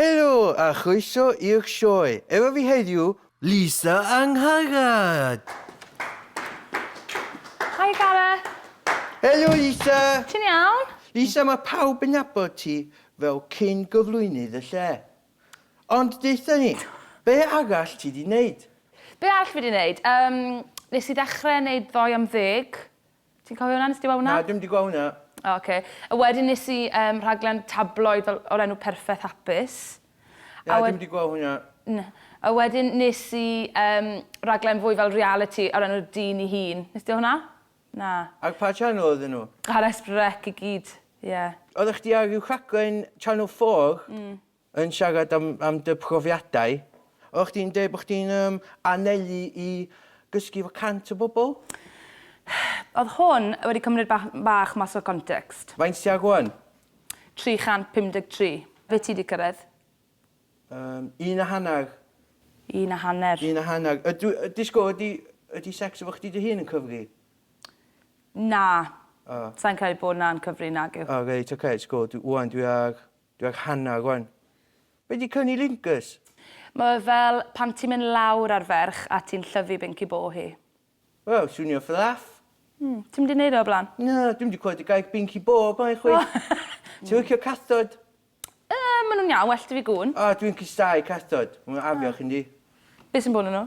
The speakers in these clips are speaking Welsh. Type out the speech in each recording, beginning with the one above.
Helo a chroeso i'r sioe. Efo fi heddiw. Lisa Angharad. Hi Gareth. Helo Lisa. Ti'n iawn? Lisa mae pawb yn nabod ti fel cyn gyflwynydd y lle. Ond deutha ni, be arall ti di neud? Be arall fi di neud? Yym, nes i ddechrau neud ddoe am ddeg Ti'n cofio hwnna? Nes di weld hwnna? Na, dwi'm di gweld hwnna. O, oce. A wedyn nes i um, rhaglen tabloid fel, o'r enw Perffaith Hapus. Na, a dwi'm di gweld hwnna. Na. A wedyn nes i um, rhaglen fwy fel reality o'r enw'r dyn i hun. Nes di hwnna? Na. Ac pa channel oedd nhw? Ar Esbrec i gyd, ie. Yeah. Oeddech chdi ar rhyw rhaglen Channel 4? Mm. yn siarad am am dy profiadau, oeddach chdi'n deud bod chdi'n yym anelu i gysgu efo cant o bobl? Oedd hwn wedi cymryd bach bach mas o context. Faint ti ar rwan? 353. Be ti 'di cyrraedd? Yym, un a hanner. Un a hanner. Un a hanner. Ydw i... Yy disgwyl, ydy ydy secs efo chdi dy hun yn cyfri? Na. O. Sa i'n credu bod 'na'n cyfri, nagyw. O reit, ocê, disgwyl, dw- ŵan dwi ar Dwi ag Hannah rwan. Be di cyni Lingus? Mae o fel pan ti'n mynd lawr ar ferch a ti'n llyfu binci bo hi. Wel, swnio fflaff. Mm, ti'm di neud o o blaen? Na, dwi'm di clywed y gair binci bo o blaen chwaith. Ti'n licio cathod? Yy, ma' nhw'n iawn, well da fi gŵn. O, dwi'n cystáu cathod. Ma' nhw'n afiach yndi? Be sy'n bo nhw nhw?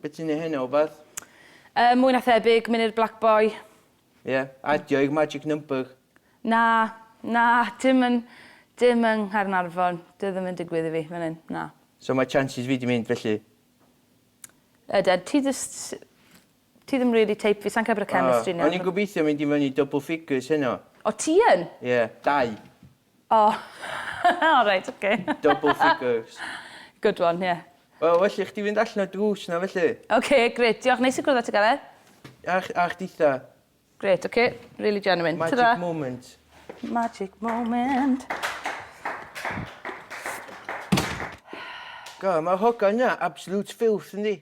Be ti'n neu heno o beth? Yy mwy na thebyg, mynd i'r Black Boy. Ie, adio i'r magic number. Na, na, dim yn, dim yng Nghaernarfon. Dyw e ddim yn digwydd i fi fan hyn, na. So mae chances fi di mynd felly? Yden, ti jyst, ti ddim really type fi, sai'n credu bod y chemistry 'na. O, o'n i'n gobeithio mynd i fyny double figures heno. O ti yn? Ie, dau. O! O reit oce. Double figures. Good one, ie. Wel, well i chdi fynd allan o'r drws 'na felly. Oce, grêt. Diolch, neis i gwrdd â ti Gareth. A ch- a chditha. Grêt, oce. Rili genuine. Tara. Magic moment. Magic moment. God, ma'r hogan 'na absolute filth, yndi?